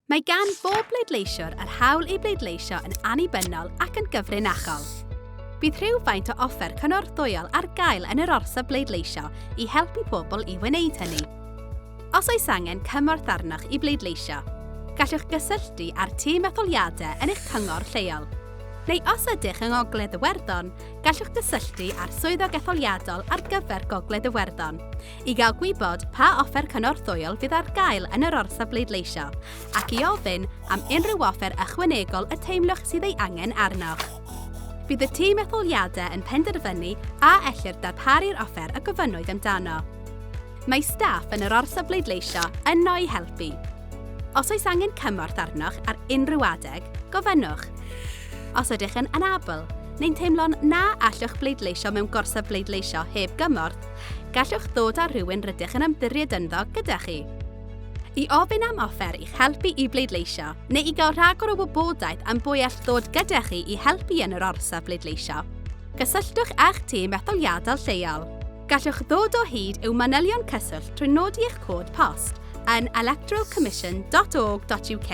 Mae gan bob pleidleisiwr yr hawl i bleidleisio yn annibynnol ac yn gyfrinachol. Bydd rhywfaint o offer cynorthwyol ar gael yn yr orsaf bleidleisio i helpu pobl i wneud hynny. Os oes angen cymorth arnoch i bleidleisio, gallwch gysylltu â'r tîm etholiadau yn eich cyngor lleol. Neu os ydych yng Ngogledd Iwerddon, gallwch gysylltu â'r Swyddog Etholiadol ar gyfer Gogledd Iwerddon. i gael gwybod pa offer cynorthwyol fydd ar gael yn yr orsaf bleidleisio ac i ofyn am unrhyw offer ychwanegol y teimlwch sydd ei angen arnoch. Bydd y tîm etholiadau yn penderfynu a ellir darparu'r offer y gofynnwyd amdano. Mae staff yn yr orsaf bleidleisio yno i helpu. Os oes angen cymorth arnoch ar unrhyw adeg, gofynnwch. Os ydych yn anabl, neu'n teimlo'n na allwch bleidleisio mewn gorsaf bleidleisio heb gymorth, gallwch ddod â rhywun rydych yn ymddiried ynddo gyda chi i ofyn am offer i'ch helpu i bleidleisio neu i gael rhagor o wybodaeth am bwy all ddod gyda chi i helpu yn yr orsaf bleidleisio. Cysylltwch â'ch tîm etholiadol lleol. Gallwch ddod o hyd i'w manylion cyswllt trwy nodi eich cod post yn electoralcommission.org.uk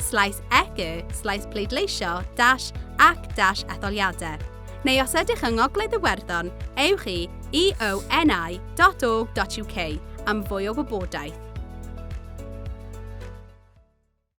slaes ec slaes pleidleisio dash ac dash etholiadau. neu os ydych yng Ngogledd Iwerddon, ewch i eoni.org.uk am fwy o wybodaeth.